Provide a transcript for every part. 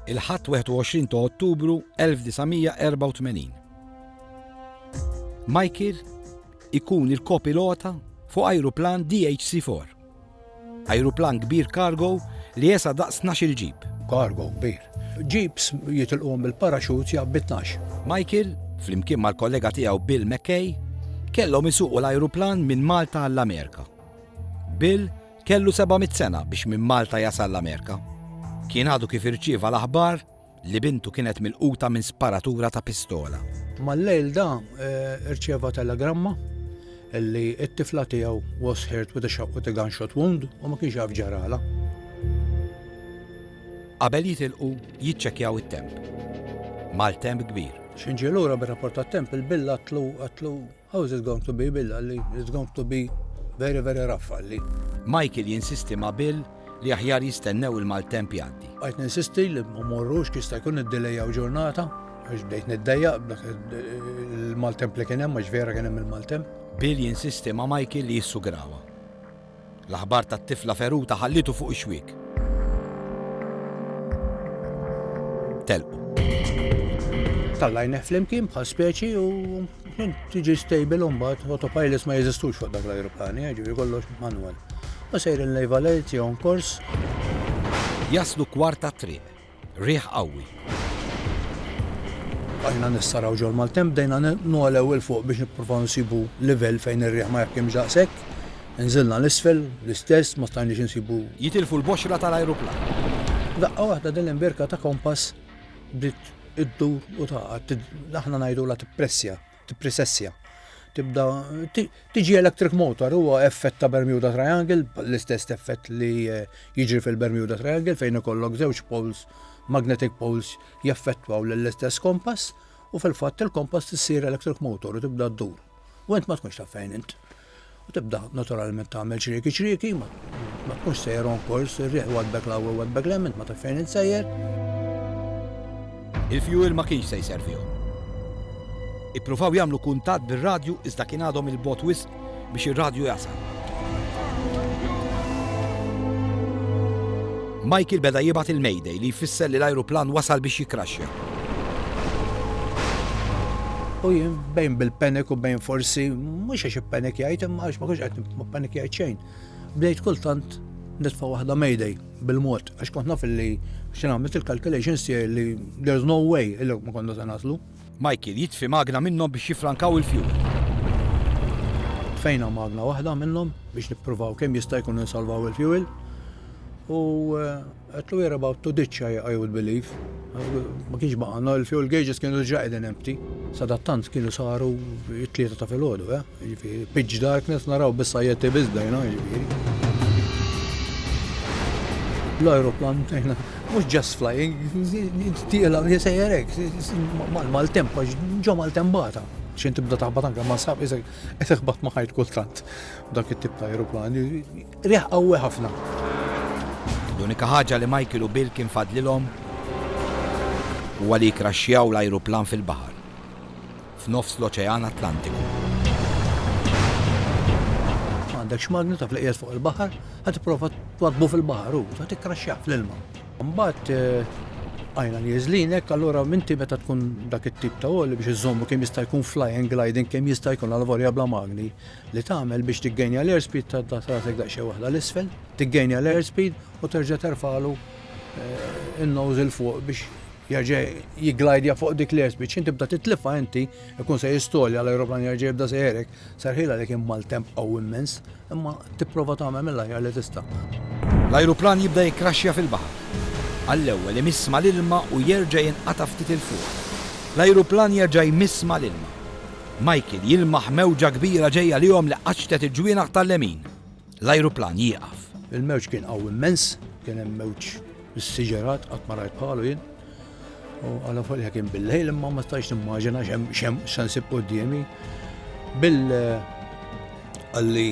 il-Ħadd 21 ta' Ottubru 1984. Michael ikun il-kopilota fuq ajruplan DHC-4. Ajruplan kbir kargo li jesa daqs 12 ġib. Kargo kbir. Ġibs jitilqom bil-paraxut jabbi 12. Michael, flimkien mal-kollega tiegħu Bill McKay, kellhom isuqu l-ajruplan minn Malta għall-Amerika. Bill Kellu seba' mitt sena biex minn Malta jasal l-Amerika. Kien għadu kif irċieva l-aħbar li bintu kienet milquta minn sparatura ta' pistola. Mal-lejl da rċieva telegramma li t-tifla tiegħu was hurt with a with a gunshot wound u ma kienx jaf x'ġaralha. Qabel jitilqu jiċċekkjaw it-temp. Maltemp kbir. X'inġie lura bir-rapport tat-temp il-bill għatlu għatlu. How is it going to be, Bill, qalli. It's going to be very, very rough, qalli. Michael jinsisti ma' Bill li aħjar jistennew il-maltemp jgħaddi. Bqajt ninsisti li ma morrux kif jista' jkun iddilejjaw ġurnata għax bdejt niddejjaq b'dak il-maltemp li kien hemm għax vera kien hemm il-maltemp. Bill jinsisti ma' Michael li jissugrawha. L-aħbar tat-tifla feruta ħallietu fuq ix-xwiek. Telqu. Tallajnieh flimkien bħal speċi u kien tiġi stable u mbagħad autopilots ma jeżistux fuq dak l-ajruplani, eh, ġifieri kollox manwal. U sejrin lejva lejt jew kors. Jaslu kwarta triq. Riħ qawwi. Bqajna nissaraw ġol-maltemp, bdejna nogħlew 'il fuq biex nippruvaw nsibu livell fejn ir-riħ ma jahkimx daqshekk. Inżilna 'l isfel, l-istess, ma stajniex insibu. Jitilfu l-boxra tal-ajruplan. F'daqqa waħda din l-imbirka ta' kompass bdiet iddur u tagħqad. Aħna ngħidulha tippressja. tippresessja. Tibda tiġi electric motor huwa effett ta' Bermuda Triangle, l-istess effett li eh, jiġri fil-Bermuda Triangle fejn ikollok żewġ poles, magnetic poles jaffettwaw lill-istess kompass u fil-fatt il-kompass tissir electric motor u tibda ddur. U int ma tkunx taf fejn int. U tibda naturalment tagħmel ċrieki ċrieki, ma tkunx sejjer on kors, ir-riħ waddbek l-għaw u waddbek l-hemm, int ma taf fejn insejjer. Il-fjuwil ma kienx se jservihom. Ippruvaw jagħmlu kuntatt bir-radju iżda kien għadhom 'il bogħod wisq biex ir-radju jasal. Michael beda jibgħat il-Mayday li jfisser li l-ajruplan wasal biex jikkraxxja. U jien bejn bil-panic u bejn forsi mhux għax ippanikjajt imma għax ma kienx qed nippanikjajt xejn. Bdejt kultant nitfa' waħda Mayday bil-mod għax kont naf li xi nagħmel il-calculations tiegħi li there's no way li ma konna se naslu. Michael jitfi magna minnhom biex jiffrankaw il-fjuwil. Tfejna magna waħda minnhom biex nippruvaw kemm jista' jkun insalvaw il-fjuwil u qedtlu we're about to ditch I would believe. Ma kienx baqgħalna, il-fjuwil gauges kienu diġà qegħdin empty. Sadattant kienu saru t-tlieta ta' filgħodu, eh? Jiġifieri pitch darkness naraw biss sajjetti biss bdejna jiġifieri. L-ajruplan bdejna mhux just flying, tieqla jsejjer hekk mal-maltemp għax ġo maltempata. Xejn tibda taħbat anke ma sab isek qed iħbat ma' ħajt kultant dak it-tip ta' ajruplan. Riħ qawwi ħafna. L-unika ħaġa li Michael u Bill kien fadlilhom huwa li jkraxxjaw l-ajruplan fil-baħar. f'nofs l-Oċean Atlantiku. Ma għandekx magnu, taf li qiegħed fuq il-baħar, ħa tipprova twaddbu fil-baħar u ħa tikkraxxjah fl-ilma. Mbagħad eh, għajna nieżlinek, allura minti meta tkun dak it-tip ta' għoli biex iżommu kemm jista' jkun flying gliding kemm jista' jkun għal vorja bla magni li tagħmel biex tiggejnja l-airspeed ta' ta' trasek daqsxejn waħda l-isfel, tiggejnja l-airspeed u terġa' terfalu eh, in-nose il fuq biex Jerġa' jigglajdja fuq dik l-airspeed, x'in tibda titlifha inti, ikun se jistolja l-ajruplan jerġa' jibda sejħerek, serħiel għalik hemm maltemp qawwi immens, imma tipprova tagħmel mill-aħjar li tista'. L-ajruplan jibda jikkraxxja fil-baħar. Għall-ewwel imiss mal-ilma u jerġa' jinqata' ftit 'il fuq. L-ajruplan jerġa' jmiss mal-ilma. Michael jilmaħ mewġa kbira ġejja lihom li qaċċtet il-ġwienaħ tal-lemin. L-ajruplan jieqaf. Il-mewġ kien qawwi immens, kien hemm mewġ bis-siġerat qatt ma rajt bħalu jien. U għala folja kien bil-lejl imma ma stajx nimmaġina x'hemm se nsib quddiemi. Bil għalli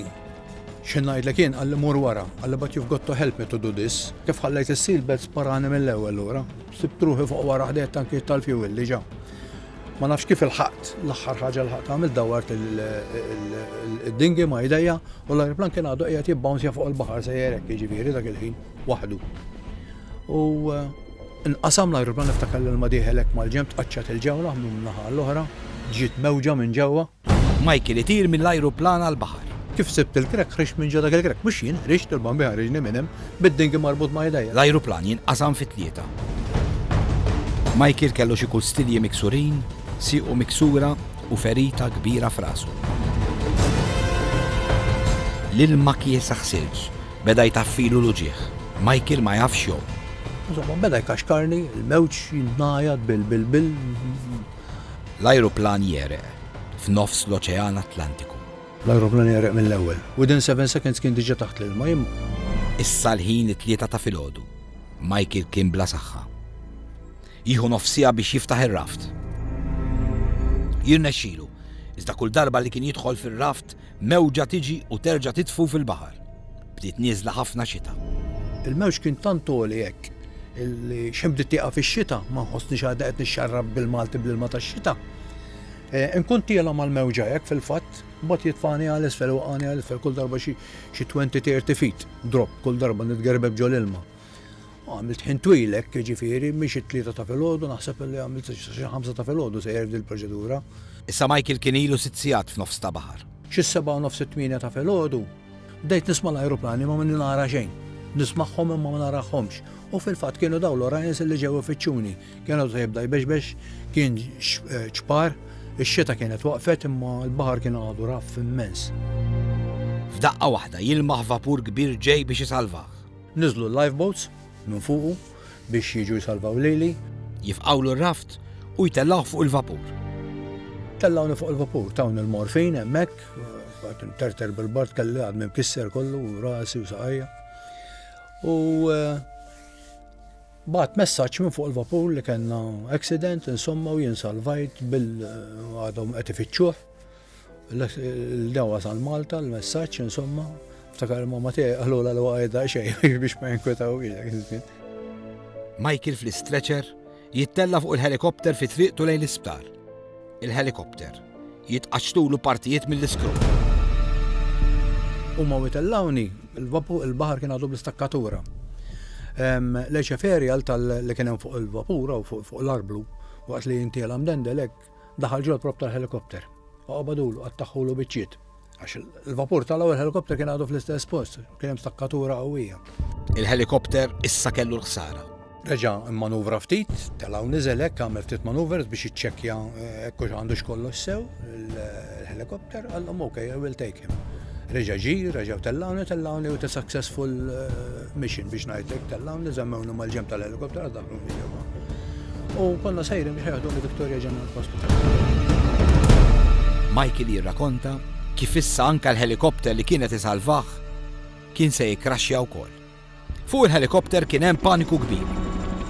xi ngħidlek jien għalli mur wara, għalli but you've got to help me to do this. Kif ħallejt is-seatbelt sparani mill-ewwel lura. Sibt ruħi fuq wara ħdejt tankijiet tal-fuel diġà. Ma nafx kif il-ħaqt, l-axħar ħaġa l-ħaqt għamil dawart il-dingi ma jdejja u l-ajruplan kien għadu qiegħed jibbawnzja fuq il-baħar se jerek jiġifieri dak il-ħin waħdu. U eh, nqasam l-ajruplan niftakar l-ma diħelek mal-ġemb tqaċċat il-ġewla minn naħa l-oħra, ġiet mewġa minn ġewwa. Michael itir mill-ajruplan għall-baħar. Kif sibt il-crack ħriġt minn ġo dak il-crack? Mhux jien ħriġt, il-Bambin ħariġni minn hemm bid-dingi marbut ma' idejja. L-ajruplan jinqasam fi tlieta. Michael kellu xi kustilji miksurin, siequ miksura u ferita kbira f'rasu. L-ilma kiesa ħsilġ, beda jtaffilu l-uġigħ. Michael ma jafx jgħum. Insomma, beda jkaxkarni, il-mewġ jingħajat bil-bil-bil. L-ajruplan jegħreq f'nofs l-Oċean Atlantiku. L-ajruplan jegħreq mill-ewwel. Within seven seconds kien diġà taħt l-ilma, imma. Issa l-ħin it-tlieta ta' filgħodu. Michael kien bla saħħa. Jieħu nofs siegħa biex jiftaħ ir-raft. Jirnexxilu, iżda kull darba li kien jidħol fir-raft, Mewġa tiġi u terġa' titfu fil-baħar. Bdiet nieżla ħafna xita. Il-mewġ kien tant għoli hekk li xejn bdiet tieqaf ix-xita, ma nħossnix għada qed nixxarrab bil-Malti bl-ilma tax-xita. Inkun tiela' mal-mewġa hekk fil-fatt, imbagħad jitfagħni għal isfel iwaqqagħni għal isfel kull darba xi twenty, tirty feet drop kull darba nitgerbeb ġol-ilma. Għamilt ħin twil hekk, jiġifieri mhix it-tlieta ta' filgħodu, naħseb illi għamilt sa xi ħamsa ta' filgħodu sejjer f'din il-proċedura. Issa Michael kien ilu sitt sigħat f'nofs ta' baħar. Xi sebgħa u nofs it-tmienja ta' filgħodu, bdejt nisma' l-ajruplani imma minni nara xejn. Nismagħhom imma ma narahomx. U fil-fatt kienu dawn l-Orions illi ġew ifittxuni. Kien għadu ta' jibda jbexbex, kien ċpar, ix-xita kienet waqfet imma l-baħar kien għadu raff immens. F'daqqa waħda jilmaħ vapur kbir ġej biex isalvah. Niżlu l-lifeboats minn fuqu biex jiġu jsalvaw lili. Jifqgħulu r-raft u jtellgħuh fuq il-vapur. Tellgħuni fuq il-vapur, tawni l-morfin hemmhekk, għad nterter bil-bard kelli għad minn kisser kollu, rasi u saqajja. U eh, bat messaċ minn fuq il-vapur li kena accident, insomma, u jinsalvajt bil-għadhom eh, għetifiċuħ, L-dew wasal Malta, l-messaġġ insomma, ftakar ma tiegħi qalula l għajda xejn biex ma jinkwetaw Michael fl-istretcher jittella fuq il-helikopter fi triqtu lejn l-isptar. Il-helikopter jitqaċtulu partijiet mill-iskru. U ma witellawni, il-bahar kien għadu bl-istakkatura. Leċeferi għal tal-li kienem fuq il-vapura u fuq l-arblu, waqt li jintiela mdendelek, Daħal ġol propp tal-helikopter. Oqbadulu, qattaħħulu biċċiet. Għax il-vapur tal-ewwel helikopter kien għadu fl-istess post, kien hemm stakkatura qawwija. Il-helikopter issa kellu l-ħsara. Reġa' immanuvra ftit, telgħu niżel hekk għamel ftit manuvers biex iċċekkja eh, hekk hux għandux kollox sew il-helikopter, għallhom ok, I will take him. Reġa' ġi, reġa' tellawni, tellawni u successful eh, Mission biex ngħidlek tellgħuni żemmewni mal-ġenb tal-elikopter għal dak l-ġewwa. U konna sejrin biex ħeħduni Victoria General Hospital. Michael jirrakonta kif issa anke l-ħelikopter li kienet isalvah kien se jikkraxxja wkoll. Fuq il-ħelikopter kien hemm paniku kbir.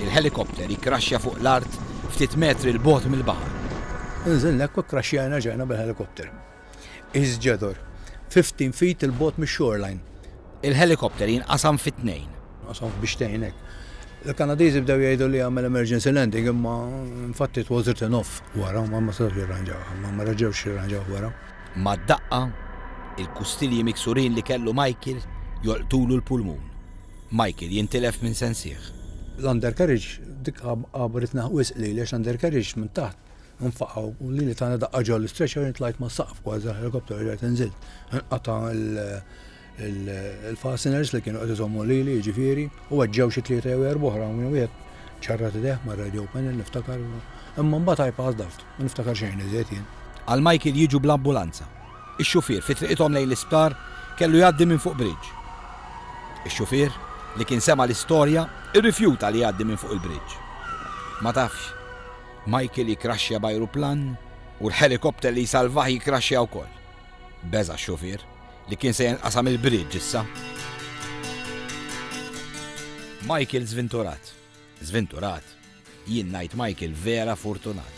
Il-ħelikopter jikkraxxja fuq l-art ftit metri l bogħod mill-baħar. Inżilna hekk u kkraxxjajna ġejna bil-ħelikopter. His Jethor, 15 feet 'il bogħod mix-shoreline. Il-ħelikopter jinqasam fi tnejn. Nqasam biex tgħinek. Il-Kanadiżi bdew jgħidu li għamel emergency landing imma infatti it was written off wara u ma setgħux jirranġawha, ma reġgħux jirranġawh wara. Mad-daqqa, il-kustilji miksurin li kellu Michael jolqtulu l-pulmun. Michael jintilef minn sensih. L-undercarriage, dik għabbritni wisq lili għax l-undercarriage minn taħt, Nfaqgħu u lili tagħna daqqa ġol l-istretcher intlajt ma' saqf kważi l-helikopter irġajt inżilt. Inqata' il-fasteners li kienu qed iżommu lili jiġifieri u weġġew xi tlieta jew erba' oħra minn wieħed ċarrat idejh mar-radio panel niftakar imma mbagħad I passed out ma niftakar xejn iżjed jien. Għal Michael jiġu bl-ambulanza. Ix-xufier fi triqithom lejn l-isptar kellu jgħaddi minn fuq bridge. Ix-xufier li kien sema' l-istorja irrifjuta li jgħaddi minn fuq il-bridge. Ma tafx. Michael jikkraxxja b'ajruplan u l-ħelikopter li jsalvah jikkraxxja wkoll. Beża' x-xufier, li kien se jenqasam il-bridge issa. Michael żvinturat. Żvinturat? Jien ngħid Michael vera furtunat.